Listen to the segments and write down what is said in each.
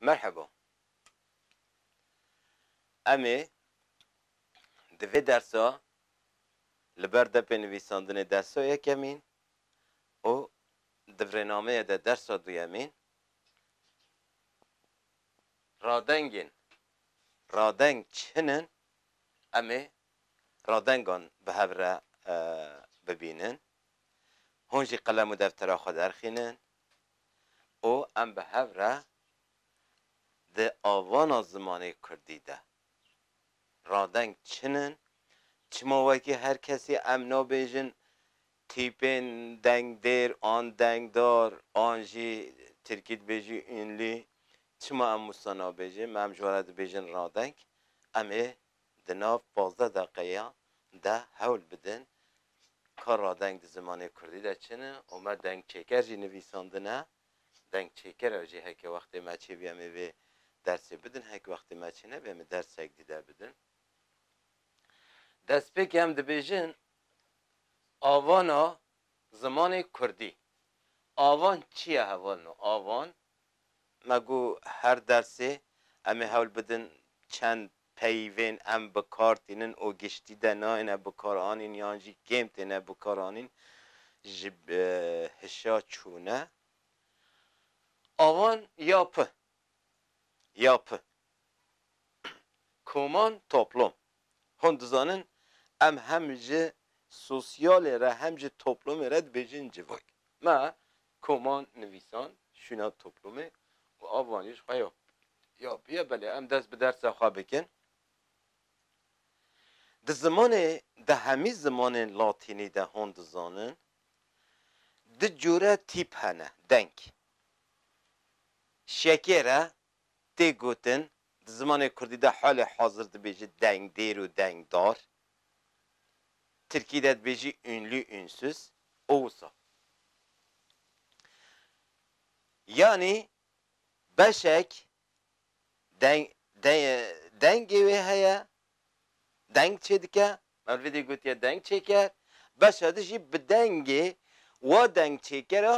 Merheba. Em ê di vê dersa li ber depê nivîsandinê dersa yekemîn û di virênameyê de dersa duyemîn radengên radeng çin in em ê radengan bi hev re bibînin. Hûn jî qelem û deftera xwe derxînin û em bi hev re di avana zimanê kurdî de radeng çin in, çima wekî her kesî em nabêjin tîpên dengdêr an dengdar an jî tirkî dibêjî ûnlî, çima em wisa nabêjin, me em ji we re dibêjin radeng, em ê Di nav pazdeh deqeya de hewl bidin ka radeng di zimanê kurdî de çi ne û me dengçêker jî nivîsandine. Dengçêker ew jî heke wextê me çêbû em ê vê dersê bidin, heke wextê me çê nebû em ê dersek dîde bidin. Destpêkê em dibêjin avana zimanê kurdî. Avan çi ye hevalino? Avan Me got her dersê em ê hewl bidin çend peyvên em bi kar tînin û giştî de nayêne bikaranîn yan jî kêm têne bikaranîn ji hişa çûne avan ya pi ya pi koman toplom. Hûn dizanin em hem ji sosyalê re hem ji toplomê re dibêjin civak. Me Koman nivîsan şûna toplûmê û av wan jî ji xwe ya. Ya bûye belê em dest bi dersa xwe bikin. Di zimanê di hemî zimanên latînî de hûn dizanin du cure tîp hene deng. Şekêr e tê gotin, di zimanê kurdî de halê hazir dibêjî dengdêr û dengdar, tirkî de dibêjî ünlü, ünsüz û wisa. Yanî beşek deng, deng, dengê wê heye, deng çêdike, Mevlidî gotiye deng çêker, beşa di jî bi dengê wa dengçêkera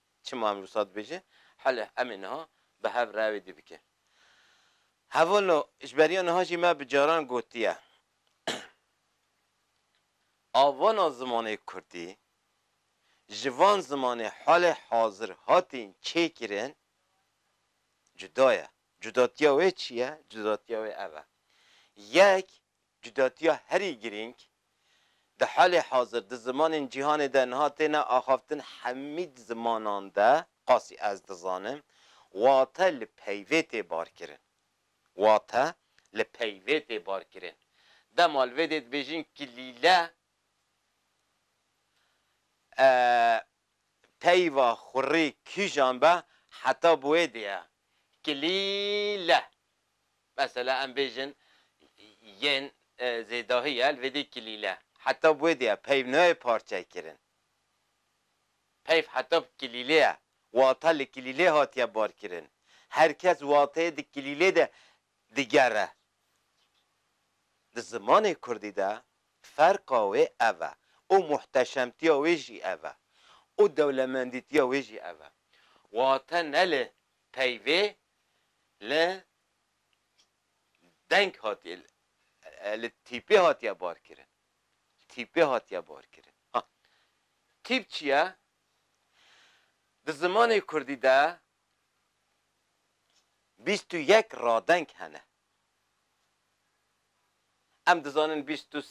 Çima em wisa dibêjin? Hele em ê niha bi hev re wê dî bikin. Hevolo ji beriya niha jî me bi caran gotiye avana zimanê kurdî ji van zimanê halê hazir hatîn çêkirin cuda ye. Cudatiya wê çi ye? Cudatiya wê ev e. Yek Cudatiya herî girîng, di halê hazir di zimanên cîhanê de niha têne axaftin hemîd zimanan de qasî ez dizanim wate li peyvê tê barkirin. Wate li peyvê tê barkirin. Dema li vê dê dibêjin kilîle e peyva xurî kîjan be heta bi wê dê ye. Kilîle. Mesela em bêjin yên zêdahî ye li vê dê kilîle. Heta bi wê dê ye peyv nayê parçekirin. Peyv heta bi kilîlê ye. Wata li kilîlê hatiye barkirin. Her kes wateyê di kilîlê de digere. Di zimanê kurdî de ferqa wê ev e û muhteşemtiya wê jî ev e û dewlemendîtiya wê jî ev e. Wate ne li Peyvê li deng hatiye, li tîpê hatiye barkirin. Tîpê hatiye barkirin. Ha, tîp çi ye? Di zimanê kurdî de bîst û yek radeng hene. Em dizanin bîst û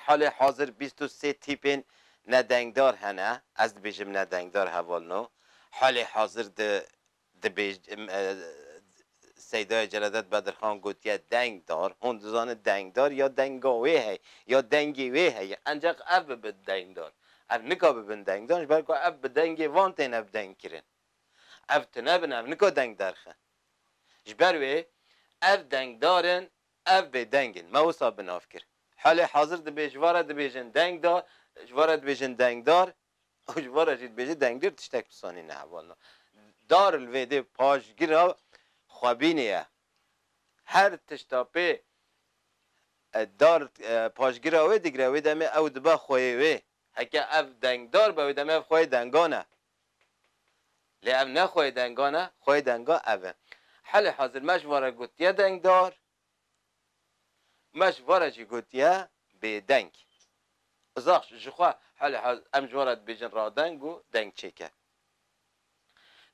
halê hazir bîst û sê tîpên nedengdar hene, ez dibêjim nedengdar heval no, halê hazir di dibêj Seydaya Celadet Bedirxan gotiye dengdar, hûn dizanin dengdar ya denga wê heye, ya dengê wê heye, enceq ev bibe dengdar. Ev nika bibin dengdar ji ber ku ev bi dengê van têne bi deng kirin. Ev tune bin ev nika deng derxin. Ji ber wê ev dengdar in Ev bê deng in. Me wisa bi nav kir. Halê hazir dibê ji van re dibêjin deng da, ji van re dibêjin dengdar û ji van re jî dibêjin dengdir tiştek pisanî ne heval na. Dar li vê dê paşgira xwebînê ye. Her tişta pê dar paşgira wê digire wê demê ew dibe xweyê wê. Heke ev dengdar be wê demê ev xweyê dengan e. Lê ev ne xweyê dengan e, xweyê dengan ev e. Helê hazir me ji van re gotiye dengdar, me ji van re jî gotiye bêdeng. Zax ji xwe helê hazir em ji van re dibêjin radeng û dengçêke.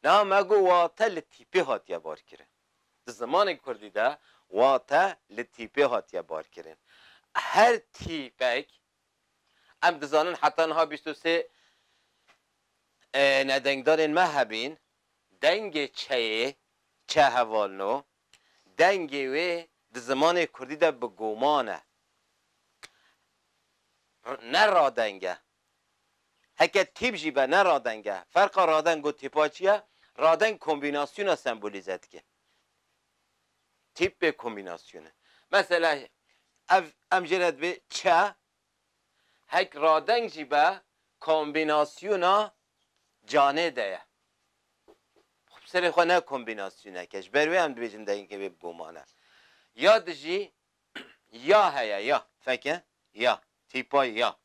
Niha me got wate li tîpê hatiye barkirin. Di zimanê kurdî de wate li tîpê hatiye barkirin. Her tîpek Em dizanin heta niha bîst û sê nedengdarên me hebîn, dengê çeyê çe hevalno, dengê wê di zimanê kurdî de bi goman e. Ne radeng e. Heke tîp jî be ne radeng e. Ferqa radeng û tîpa çi ye? Radeng kombînasyona sembolîze dike. Tîpê kombînasyonê. Mesela ev em jê re dibê çe hek radeng jî be kombînasyona canê de ye. Xwe bi serê xwe ne kombînasyonek e. Ji ber wê em dibêjin dengê wê bi goman e. Ya di jî ya heye ya. Feke ya. Tîpa ya.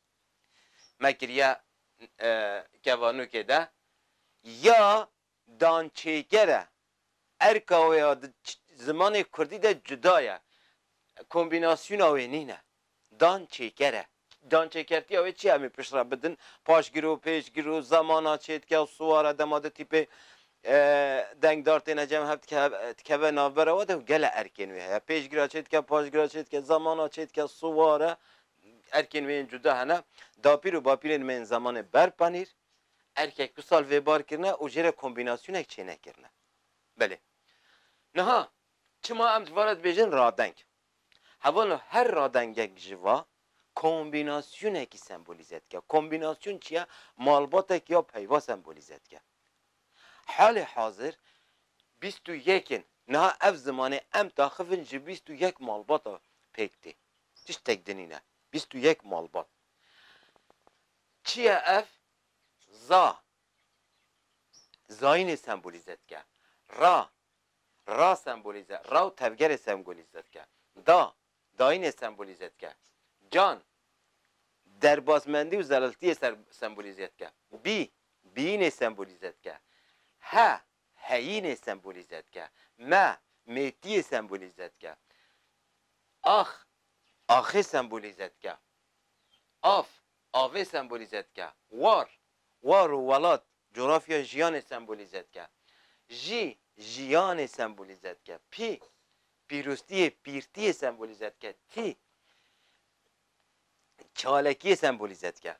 Me kiriye kevanokê de. Ya dançêger e. Erka wê ya di zimanê kurdî de cuda ye. Kombînasyona wê nîne. Dan çêker e. Dançêkertiya wê çi ye? Em ê pişt re bidin. Paşgir û pêşgir û zemana çêdike û siwar e. Dema du tîpê dengdar têne cem hev dikeve navbera we de û gele erkên wê heye. Pêşgira çêdike, paşgira çêdike, zemana çêdike, siwar e. Erkên wê yên cuda hene. Dapîr û bapîrên me yên zemanê berpanîr. Erkek bi sal vê bar kirine û jê re kombînasyonek çênekirine. Belê. Niha, çima em ji va re dibêjin radeng? Heval o her radengek ji va kombînasyonekî sembolîze dike. Kombînasyon çi ye? Malbatek ya peyva sembolîze dike. Halê hazir bîst û yek in. Niha ev zimanê em taxivin ji bîst û yek malbata pêk tê. Tiştek di nîne. Bîst û yek malbat. Çi ye ev? Za, zayînê sembolîze dike. Ra, ra sembolîze, ra û tevgerê semgolîze dike. Da, dayînê sembolîze dike. Can, derbasmendî û zeliltiyê ser sembolîze dike. Bî, bîyînê sembolîze dike. He, heyînê sembolîze dike. Me, mêtiyê sembolîze dike. Ax, axê sembolîze dike. Av, avê sembolîze dike. War, war û welat, cografya jiyanê sembolîze dike. Jî, jiyanê sembolîze dike. Pî, pîroztiyê, pîrtiyê sembolîze dike. Tî, çalekiyê sembolîze dike.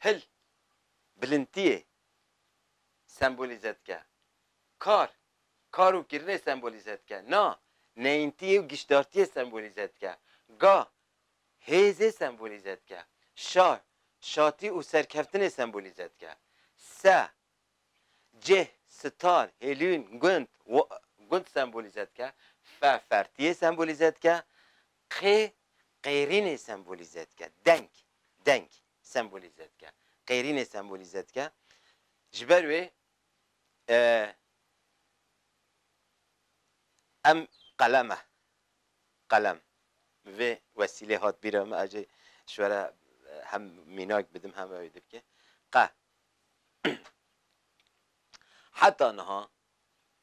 Hil, bilintiyê sembolîze dike. Kar, kar û kirinê sembolîze dike. Na, neyntiyê û giştdartiyê sembolîze dike. Ga, hêzê sembolîze dike. Şa, şatî û serkeftinê sembolîze dike. Se, cih, sitar, hêlûn, gund, gund sembolîze dike. Fe, fertiyê sembolîze dike. Qê, qêrînê sembolîze dike. Deng, deng sembolîze dike. Qêrînê sembolîze dike. Ji ber wê. Em qelem e. Qelem. Bi vê wesîlê hat bîra min, ez jî ji we re hem mînak bidim hem ew ê dibike. Qe. Heta niha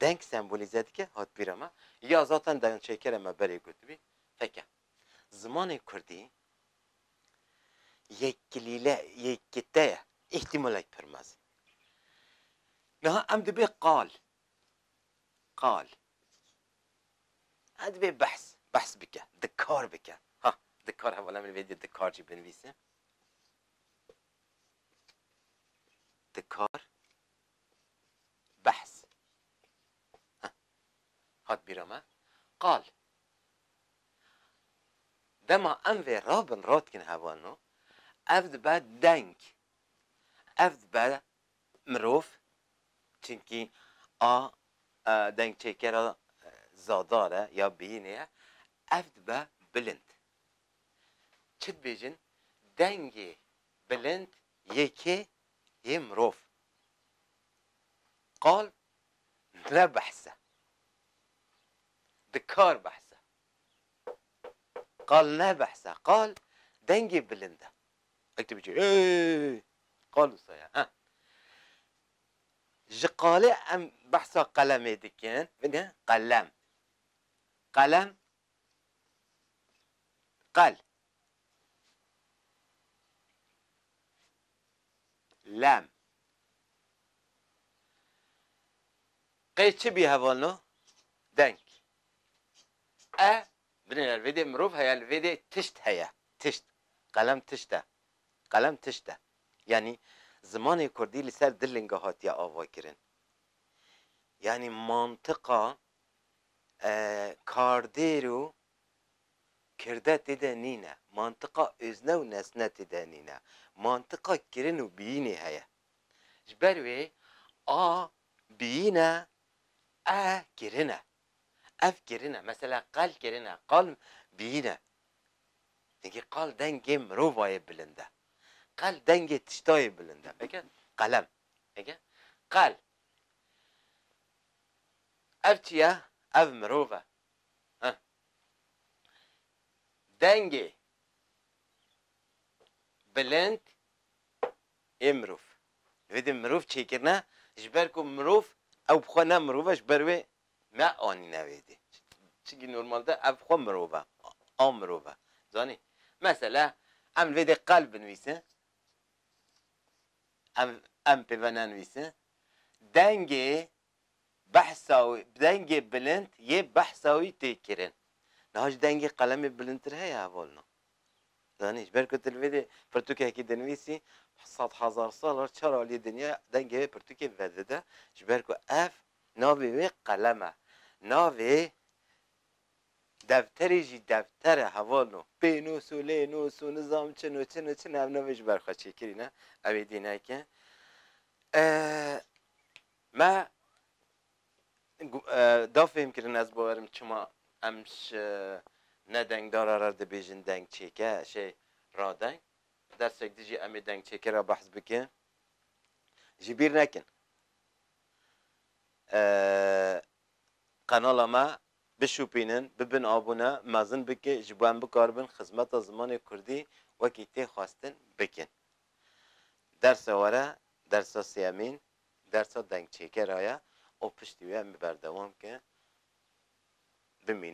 Deng sembolîze dike hatbîra me ya zaten dengçêkera me berê gotibî. Feke. Zimanê kurdî yek kilîle, yek kite ye, îhtîmalek pir mezin. Niha em dibê qal, qal, em dibê behs, behs bike, dikar bike. Ha, dikar hevala min vêdî dikar jî binivîse. Dikar, Behs. Heh. Hat bîra me. Qal. Dema em vê rabin ra dikin hevalno, ev dibe deng. Ev dibe mirov, çinkî a dengçêkera zadar e ya biyînê ye, ev dibe bilind. Çi dibêjin, dengê bilind yê kê yê mirov qal ne behs e. Dikar behs e. Qal ne behs e. Qal dengê bilind e. Wek tu bicî êêê qal wisa ye he. Ji qalê em behsa qelemê dikin. Bige qelem. Qelem qel. Lem. Qey çi bî hevalno? Deng. E, binê ya li vê dê mirov heye, li vê dê tişt heye. Tişt. Qelem tişt e. Qelem tişt e. Yanî zimanê kurdî li ser du linge hatiye avakirin. Yanî mantiqa kardêr û Kirde tê de nîne, mantiqa ozne û nesne tê de nîne, mantiqa kirin û biyînê heye. Ji ber wê a biyîn e, e kirin e. Ev kirin e. Mesela qal kirin e, qal biyîn e. Çimkî qal dengê mirovayê bilind e. Qal dengê tiştayê bilind e. Veke qelem. Veke qal. Ev çi ye? Ev mirov e. Heh. Dengê bilind ê mirov. Divê di mirov çêkirine ji ber ku mirov ew bi xwe ne mirov e ji ber wê ne anîne wê dê. Çinkî normalde ev xwe mirov e. A mirov e. Zanî? Mesela em li vê dê qel binivîsin. Em em pê ve nenivîsin. Dengê behsa wî bi dengê bilind yê behsa wî tê kirin. Niha jî dengê qelemê bilindtir heye hevalna. Zanî ji ber ku tu li vê dê pirtûkekî dinivîsî sed hezar sal re çar aliyê dinya dengê vê pirtûkê vedide ji ber ku ev navê wê qelem e. Navê defterê jî defter e hevalno. Pênûs û lênûs û nizam çin û çin û çin e ev navê ji ber xwe çêkirî ne. Ew êdî neke. Me da fêhmkirin ez bawerim çima em ji ne dengdara re dibêjin dengçêke, şê radeng. Dersek din jî em ê dengçêkê re behs bikin. Ji bîr nekin qenala me bişûpînin, bibin abûne, mezin bikin ji bo em bikaribin xizmeta zimanê kurdî wekî tê xwestin bikin. Dersa were, dersa sêyemîn Dersa dengçêkera ye û piştî wê em bi berdewam ke bimînin.